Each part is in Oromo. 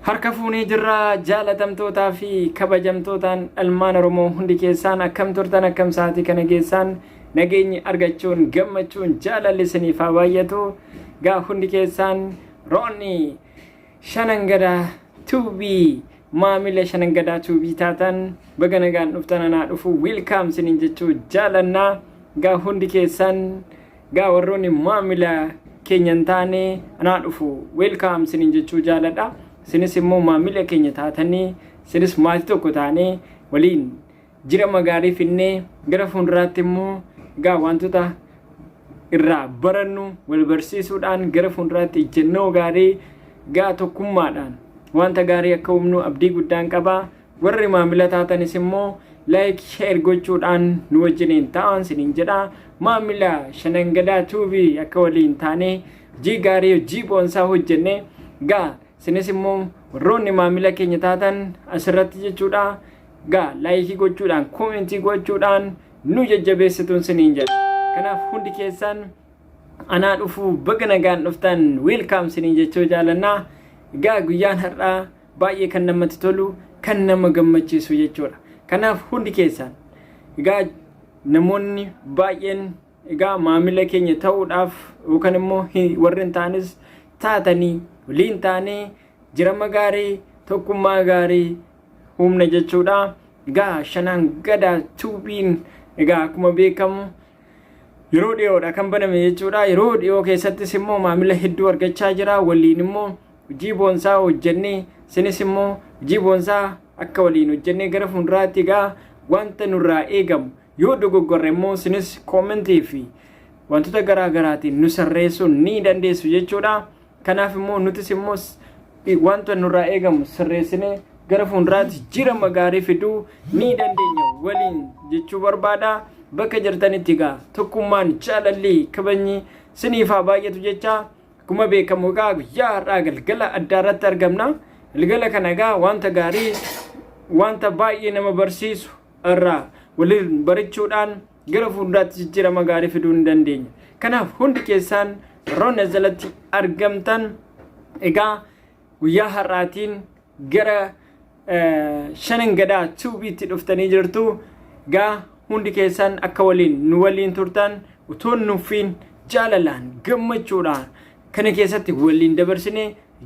Harka fuunee jirra jaalatamtootaa fi kabajamtootaan ilmaan Oromoo hundi keessaan akkam turtan akkam sa'aatii kana geessaan nageenyi argachuun gammachuun jaalalli isiniif haa baay'atu. Gaa hundi keessaan roonni Shanangadaa Tuubii maamila Shanangadaa Tuubii taatan baga nagaan dhuftan anaa dhufu wiilkaam sinin jechuu jaalannaa gaa hundi keessan gaa warroonni maamila keenya hin taane anaa dhufu wiilkaam sinin jechuu jaaladha sinis immoo maamila keenya taatanii sinis maatii tokko taanee waliin Jira magaalii finnee gara fuunduraatti immoo gaa wantoota irraa barannu wal barsiisuudhaan gara fuunduraatti ijjennoo gaarii gaa tokkummaadhaan wanta gaarii akka humnu abdii guddaan qaba warri maamila taatanis immoo laayik sheer gochuudhaan nu wajjiniin ta'an siniin jedha maamila shanangadaa tuubii akka waliin taanee hojii gaarii hojii boonsaa hojjenne gaa sinis immoo warroonni maamila keenya taatan asirratti jechuudha Gaa laayikii gochuudhaan koomentii gochuudhaan nu jajjabeessituun siniin jedha. Kanaaf hundi keessaan anaa dhufuu baga nagaan dhuftan wiilkaam siniin jechuu jaalannaa. Gaa guyyaan har'aa baay'ee kan namatti tolu kan nama gammachiisu jechuudha. Kanaaf hundi keessaan gaa namoonni baay'een egaa maamila keenya ta'uudhaaf yookaan immoo warreen ta'anis taatanii waliin taanee jirama gaarii tokkummaa gaarii uumne jechuudha. Egaa shanaan gadaa tuubiin egaa akkuma beekamu yeroo dhiyoodha kan baname jechuudha. Yeroo dhiyoo keessattis immoo maamila hedduu argachaa jira. Waliin immoo hojii boonsaa hojjennee isinis immoo hojii boonsaa akka waliin hojjennee gara fuulduraatti egaa wanta nurraa eegamu yoo dogoggorre immoo isinis koomentii fi wantoota garaa garaatiin nu sirreessuu ni dandeessu jechuudha. Kanaaf immoo nutis immoo wanta nurraa eegamu sirreessinee gara fuulduraatti jirama gaarii fiduu ni dandeenya waliin jechuu barbaada. Bakka jirtanitti egaa tokkummaan jaalalli kabajni siniif haa baay'atu jecha akkuma beekamu egaa guyyaa har'aa galgala addaa irratti argamna. Galgala kana egaa wanta gaarii wanta baay'ee nama barsiisu irraa waliin barachuudhaan gara fuulduraatti jijjiirama gaarii fiduu ni dandeenya. Kanaaf hundi keessaan roon as jalatti argamtan egaa guyyaa har'aatiin gara shanan gadaa tuubiitti dhuftanii jirtu egaa hundi keessaan akka waliin nu waliin turtan utuu nuffiin jaalalaan gammachuudhaan kana keessatti waliin dabarsine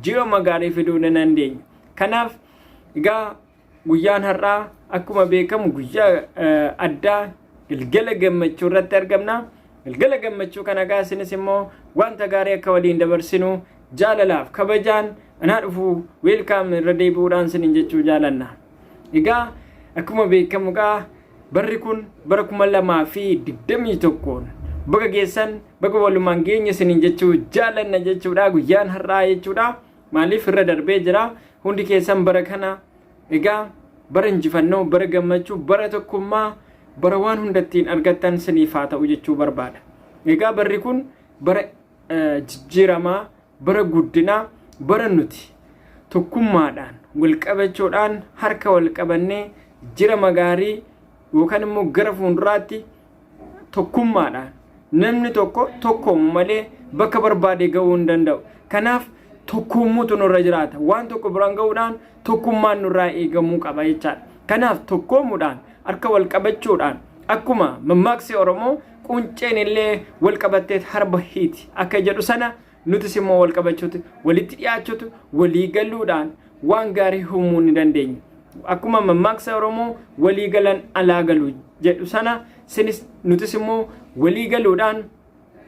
ji'ooma gaarii fiduu ni dandeenya. Kanaaf egaa Guyyaan har'aa akkuma beekamu guyyaa addaa galgala gammachuu irratti argamna. Galgala gammachuu kana egaa isinis immoo wanta gaarii akka waliin dabarsinu jaalalaaf kabajaan anaa dhufu weelkaam irra deebi'uudhaan isinin jechuu jaalanna. Egaa akkuma beekamu egaa barri kun bara kuma lamaa fi digdamii tokkoon baga geessan baga walumaan geenya isinin jechuu jaalanna jechuudha guyyaan har'aa jechuudha. Maaliif irra darbee jira hundi keessan bara kana egaa bara injifannoo bara gammachuu bara tokkummaa bara waan hunda ittiin argattan siniif haa ta'u jechuu barbaada. Egaa barri kun bara jijjiiramaa bara guddinaa bara nuti tokkummaadhaan walqabachuudhaan harka walqabannee jirama gaarii yookaan immoo gara fuulduraatti tokkummaadhaan namni tokko tokkoomu malee bakka barbaade ga'uu hin danda'u. Kanaaf tokkoommuutu nurra jiraata. Waan tokko biraan ga'uudhaan tokkummaan nurraa eegamuu qaba jechaadha. Kanaaf tokkoomuudhaan harka wal qabachuudhaan akkuma mammaaksi Oromoo qunceen illee wal qabatteet harba hiiti akka jedhu sana Nutis immoo wal qabachuutu, walitti dhiyaachuutu, walii galuudhaan waan gaarii uumuu ni dandeenya. Akkuma mammaaksa Oromoo walii galan alaa galu jedhu sana sinis nutis immoo walii galuudhaan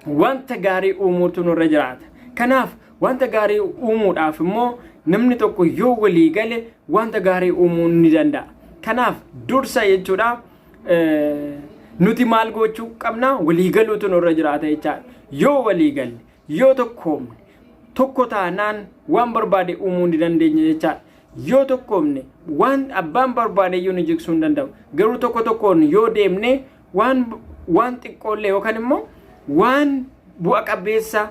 wanta gaarii uumuutu nurra jiraata. Kanaaf wanta gaarii uumuudhaaf immoo namni tokko yoo walii gale wanta gaarii uumuu ni danda'a. Kanaaf dursa jechuudha. nuti maal gochuu qabna waliigaluutu nurra jiraata jechaadha. Yoo waliigalle, yoo tokkoomne, tokko taanaan waan barbaade uumuu ni dandeenya jechaadha. Yoo tokkoomne waan abbaan barbaade iyyuu nu jigsuu hin danda'u. Garuu tokko tokkoon yoo deemne waan waan xiqqoollee yookaan immoo waan bu'a qabeessa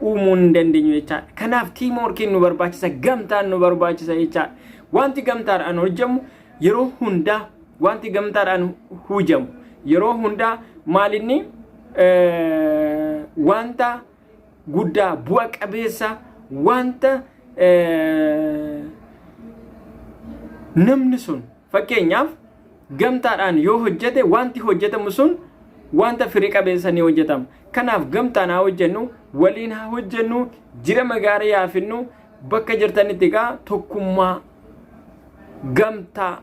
uumuu hin dandeenyu jechaadha. Kanaaf tiimoorkiin nu barbaachisa, gamtaan nu barbaachisa jechaadha. Wanti gamtaadhaan hojjetamu yeroo hundaa wanti gamtaadhaan hojjetamu yeroo hundaa maalinni wanta guddaa bu'a qabeessa wanta namni sun Fakkeenyaaf, gamtaadhaan yoo hojjete waanti hojjetamu sun waanta firi qabeessa ni hojjetama. Kanaaf gamtaan haa hojjennu, waliin haa hojjennu, jirama gaarii haa fidnu, bakka jirtanitti egaa tokkummaa, gamtaa,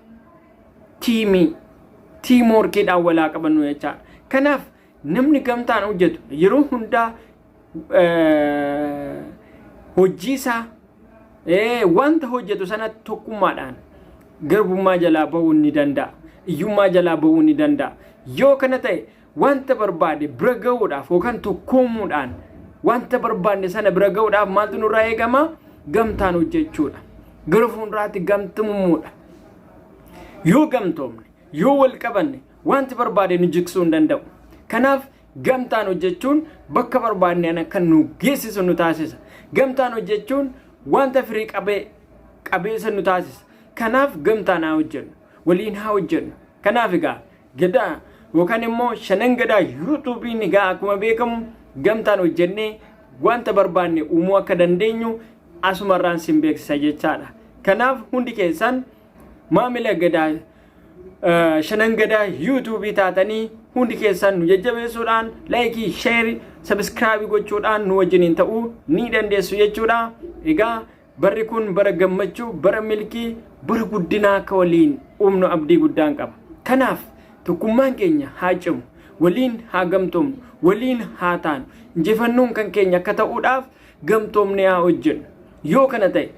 tiimii, tiimworkiidhaan wal haa qabannu jechaadha. Kanaaf Namni gamtaan hojjetu yeroo hundaa hojiisaa wanta hojjetu sana tokkummaadhaan garbummaa jalaa ba'uu ni danda'a. Iyyummaa jalaa ba'uu ni danda'a. Yoo kana ta'e wanta barbaade bira ga'uudhaaf yookaan tokkoomuudhaan wanta barbaadne sana bira ga'uudhaaf maaltu nurraa eegama? Gamtaan hojjechuudha. Gara fuulduraatti gamtummuudha. Yoo gamtoomne, yoo wal qabanne, Wanti barbaade nu jiksuu hin danda'u. Kanaaf gamtaan hojjechuun bakka barbaadne ana kan nu geessisu nu taasisa. Gamtaan hojjechuun wanta firii qabee qabeessa nu taasisa. Kanaaf gamtaan haa hojjennu. Waliin haa hojjennu. Kanaaf egaa gadaa yookaan immoo shanan gadaa yuutuubiin egaa akkuma beekamu gamtaan hojjennee wanta barbaanne uumuu akka dandeenyu asumarraan sin beeksisa jechaadha. Kanaaf hundi keessan maamila gadaa shanan gadaa yuutuubii taatanii hundi keessaan nu jajjabeessuudhaan laayikii sheeri sabiskiraabii gochuudhaan nu wajjiniin ta'uu ni dandeessu jechuudha. Egaa barri kun bara gammachuu, bara milkii, bara guddinaa akka waliin uumnu abdii guddaan qaba. Kanaaf tokkummaan keenya haa cimu, waliin haa gamtoomnu, waliin haa taanu, injifannoon kan keenya akka ta'uudhaaf gamtoomnee haa hojjennu. Yoo kana ta'e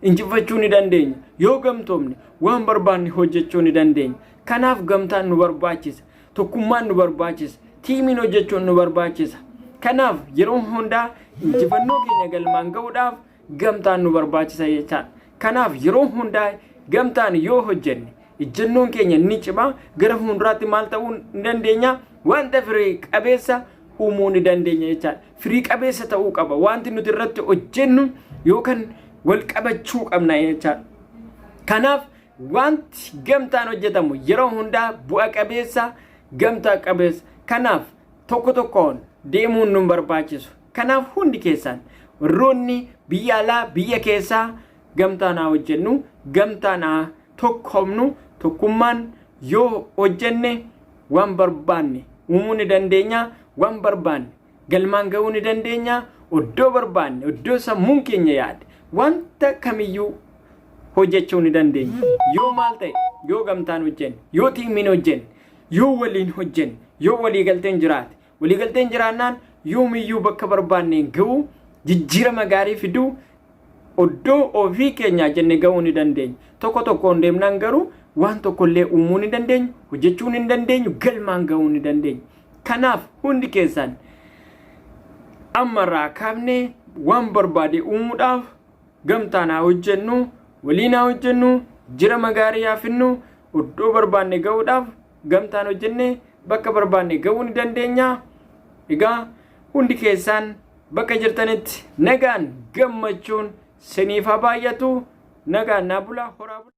injifachuu ni dandeenya. Yoo gamtoomne waan barbaanne hojjechuu ni dandeenya. Kanaaf gamtaan nu barbaachisa. Tokkummaan nu barbaachisa. Tiimiin hojjechuun nu barbaachisa. Kanaaf yeroo hundaa injifannoo keenya galmaan ga'uudhaaf gamtaan nu barbaachisa jechaadha. Kanaaf yeroo hundaa gamtaan yoo hojjenne ijjennoon keenya ni cima gara fuulduraatti maal ta'uu ni dandeenya wanta firii qabeessa uumuu ni dandeenya jechaadha. firii qabeessa ta'uu qaba. Wanti nuti irratti hojjennu yookaan wal qabachuu qabna jechaadha. Kanaaf wanti gamtaan hojjetamu yeroo hundaa bu'a qabeessa gamtaa qabeessa. Kanaaf tokko tokkoon deemuun nun barbaachisu. Kanaaf hundi keessaan warroonni biyya alaa biyya keessaa gamtaan haa hojjennu, gamtaan haa tokkoomnu, tokkummaan yoo hojjenne waan barbaanne uumuu ni dandeenya waan barbaanne galmaan ga'uu ni dandeenya oddoo barbaanne oddoo sammuun keenya yaade wanta kamiyyuu hojjechuu ni dandeenya yoo maal ta'e yoo gamtaan hojjenne yoo tiimiin hojjenne yoo waliin hojjenne yoo waliigalteen jiraate Waliigalteen jiraannaan yoomiyyuu bakka barbaanneen ga'uu, jijjiirama gaarii fiduu, oddoo ofii keenyaa jenne ga'uu ni dandeenya. Tokko tokkoon deemnaan garuu waan tokkollee uumuu ni dandeenyu, hojjechuu ni dandeenyu, galmaan ga'uu ni dandeenya. Kanaaf hundi keessaan ammarraa kaafnee waan barbaade uumuudhaaf gamtaan haa hojjennu, waliin haa hojjennu, jirama gaarii haa finnu, oddoo barbaanne ga'uudhaaf gamtaan hojjennee bakka barbaanne ga'uu ni dandeenya. Egaa hundi keessaan bakka jirtanitti nagaan gammachuun siniif haa baay'atu nagaan naa bulaa horaa bulaa.